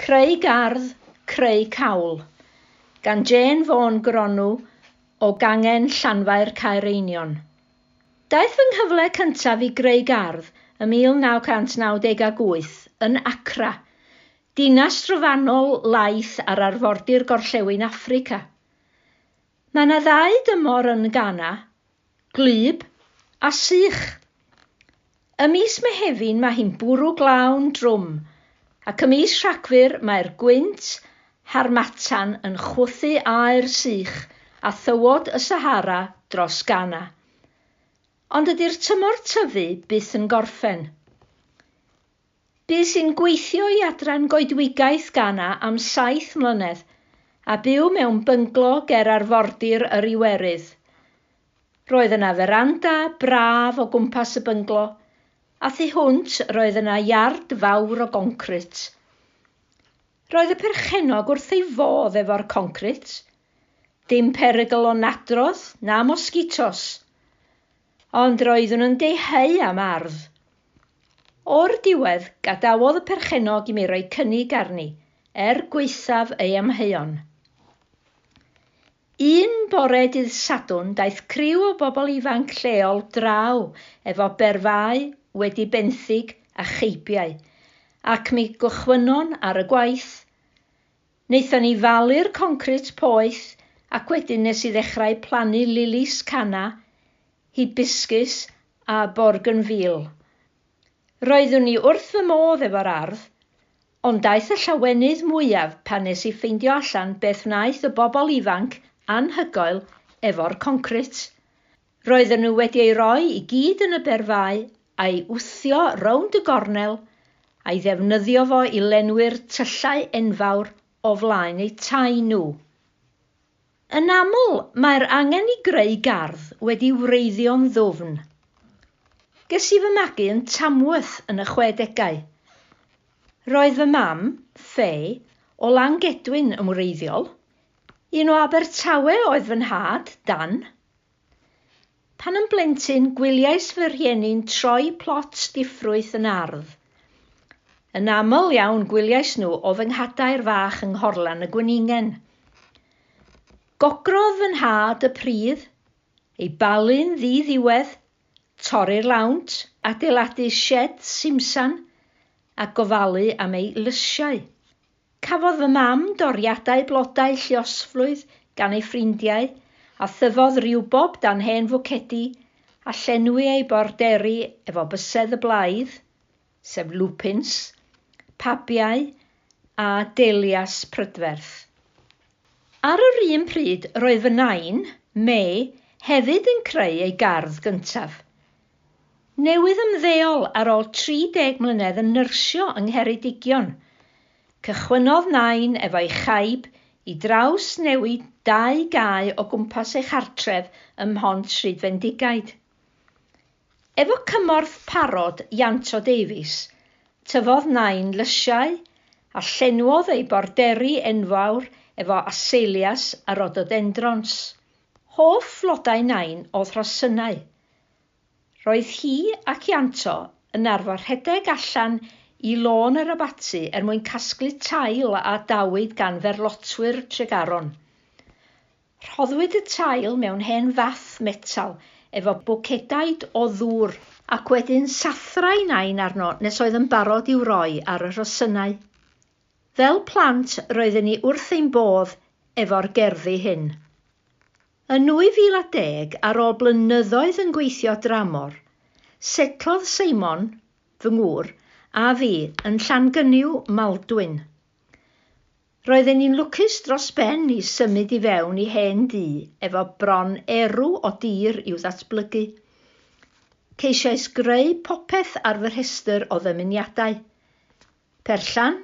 Creu Gardd, Creu Cawl, gan Jane Vaughan Gronw o Gangen Llanfair Caereinion. Daeth fy nghyfle cyntaf i greu gardd ym 1998 yn Accra, dinas drofannol laith ar arfordir gorllewin Affrica. Mae 'na ddau dymor yn Ghana, Gwlyb a sych. Ym mis Mehefin mae hi'n bwrw glawn drwm, ac ym mis Rhagfyr mae'r gwynt harmattan yn chwythu aer sych a thywod y Sahara dros Ghana. Ond dydy'r tymor tyfu byth yn gorffen. Bu sy'n gweithio i Adran Goedwigaeth Ghana am saith mlynedd, a byw mewn bynglo ger arfordir yr Iwerydd. Roedd yna feranda braf o gwmpas y bynglo, a thu hwnt roedd yna iard fawr o goncrit. Roedd y perchennog wrth ei fodd efo'r concrit. Dim perygl o nadrodd na mosgitos. Ond roeddwn yn deheu am ardd. O'r diwedd, gadawodd y perchennog i mi roi cynnig arni, er gwaethaf ei amheuon. Un bore dydd Sadwrn daeth criw o bobl ifanc lleol draw efo berfau wedi benthyg a cheibiau, ac mi gychwynnon ar y gwaith. Naethon ni falu'r concrit poeth ac wedyn nes i ddechrau plannu lilis canna, hibiscus a borgynfîl. Roeddwn i wrth fy modd efo'r ardd, ond daeth y llawenydd mwyaf pan nes i ffeindio allan beth wnaeth y bobl ifanc anhygoel efo'r concrit. Roedden nhw wedi ei roi i gyd yn y berfau, a'i wthio rownd y gornel, a'i ddefnyddio fo i lenwi'r tyllau enfawr o flaen eu tai nhw. Yn aml, mae'r angen i greu gardd wedi wreiddio'n ddwfn. Ges i fy magu yn Tamworth yn y chwedegau. Roedd fy mam, Fay, o Langedwyn yn wreiddiol. Un o Abertawe oedd fy nhad, Dan. Pan yn blentyn, gwyliais fy rhieni'n troi plot diffrwyth yn ardd. Yn aml iawn gwyliais nhw o fy nghadair fach yng Nghorlan y Gweningen. Gogrodd fy nhad y pridd, ei balu'n ddi-ddiwedd, torri'r lawnt, adeiladu sied simsan a gofalu am ei lysiau. Cafodd fy mam doriadau blodau lluosflwydd gan ei ffrindiau, a thyfodd riwbob dan hen fwcedi a llenwi ei borderi efo bysedd y blaidd, sef lupins, pabiau a dahlias prydferth. Ar yr un pryd, roedd fy nain, May, hefyd yn creu ei gardd gyntaf. Newydd ymddeol ar ôl 30 mlynedd yn nyrsio yng Ngheredigion, cychwynnodd Nain efo'i chaib i drawsnewid dau gae o gwmpas ei chartref ym Mhont Rhydfendigaid. Efo cymorth parod Ianto Davies, tyfodd Nain lysiau a llenwodd ei borderi enfawr efo aseilias a rhododendrons. Hoff flodau Nain oedd rhosynnau, Roedd hi ac Ianto yn arfer rhedeg allan i Lôn yr Abaty er mwyn casglu tail a adawyd gan ferlotwyr Tregaron. Rhoddwyd y tail mewn hen fath metal efo bwcedaid o ddŵr, ac wedyn sathrai Nain arno nes oedd yn barod i'w roi ar y rhosynnau. Fel plant roedden ni wrth ein bodd efo'r gerddi hyn. Yn 2010, ar ôl blynyddoedd yn gweithio dramor, setlodd Seimon, fy ngŵr, a fi yn Llangynyw, Maldwyn. Roedden ni'n lwcus dros ben i symud i fewn i hen dŷ efo bron erw o dir i'w ddatblygu. Ceisiais greu popeth ar fy rhestr o ddymuniadau. Perllan,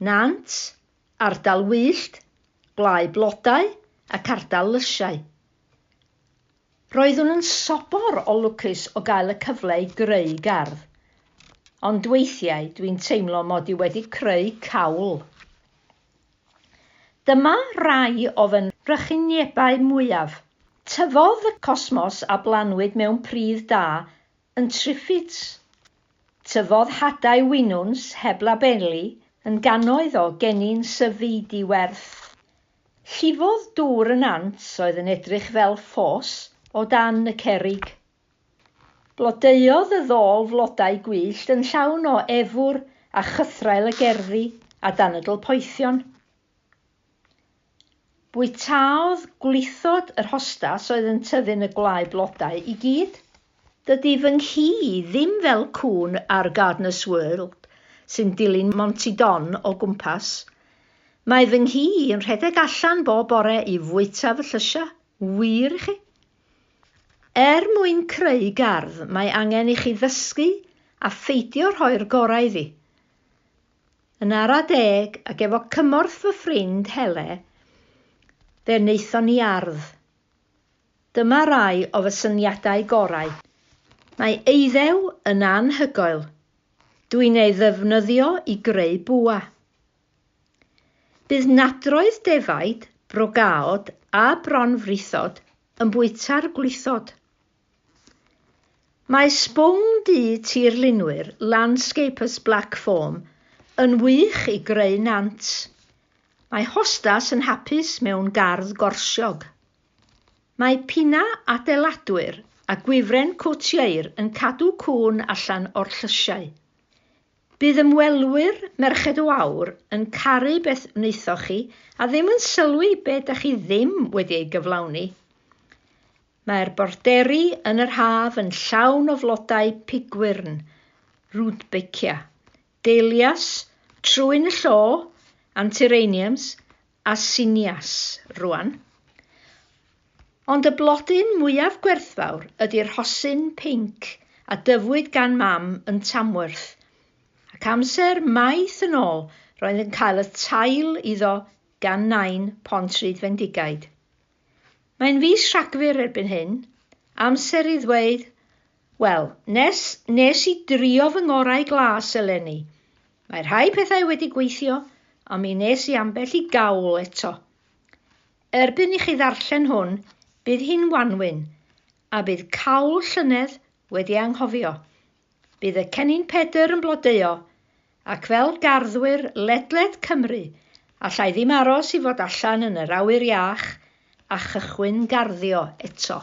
Nant, Ardal wyllt, gwlâu blodau ac ardal lysiau. Roeddwn yn sobor o lwcus o gael y cyfle i greu gardd, ond weithiau dwi'n teimlo mod i wedi creu cawl. Dyma rai o fy nrychuniebau mwyaf. Tyfodd y cosmos a blanwyd mewn pridd da yn Triffids. Tyfodd hadau winwns heb labeli yn gannoedd o gennin syfu di-werth. Llifodd dŵr y nant oedd yn edrych fel ffos o dan y cerrig. Blodeuodd y ddôl flodau gwyllt yn llawn o efwr a chythraul y gerddi a danydl poethion. Bwytaodd gwlithod yr hostas oedd yn tyfu'n y gwlâu blodau i gyd. Dydy fy nghi i ddim fel cŵn ar Gardener's World sy'n dilyn Monty Don o gwmpas. Mae fy nghi i yn rhedeg allan bob bore i fwyta fy llysiau, wir i chi. Er mwyn creu gardd mae angen i chi ddysgu a pheidio rhoi'r gorau iddi. yn ara deg ac efo cymorth fy ffrind Hele, fe wnaethon ni ardd. Dyma rai o fy syniadau gorau. Mae eiddew yn anhygoel, dwi'n ei ddefnyddio i greu bwa. Bydd nadroedd defaid, brogaod a bronfrithod yn bwyta'r gwlithod. Mae sbwng du tirlunwyr Landscapers Black Foam yn wych i greu nant. Mae hostas yn hapus mewn gardd gorsiog. Mae pinnau adeiladwyr a gwifren cwt ieir yn cadw cŵn allan o'r llysiau. Bydd ymwelwyr Merched o Aur yn caru beth wnaethoch chi a ddim yn sylwi be da chi ddim wedi ei gyflawni. Mae'r borderi yn yr haf yn llawn o flodau pigwyrn, rudbeckia, dahlias, trwyn y llo, antirrheniums a sinias rwan. Ond y blodyn mwyaf gwerthfawr ydy'r rhosyn pinc a dyfwyd gan Mam yn Tamworth, ac amser maith yn ôl roedd yn cael y tail iddo gan Nain Pont Rhydd Fendigaid. Mae'n fis Rhagfyr erbyn hyn, amser i ddweud, wel, nes, nes i drio fy ngorau glas eleni. Mae rhai pethau wedi gweithio, ond mi nes i ambell i gawl eto. Erbyn i chi ddarllen hwn, bydd hi'n wanwyn, a bydd cawl llynedd wedi anghofio. Bydd y Cennin Pedr yn blodeuo, ac fel garddwyr ledled Cymru, allai ddim aros i fod allan yn yr awyr iach a chychwyn garddio eto.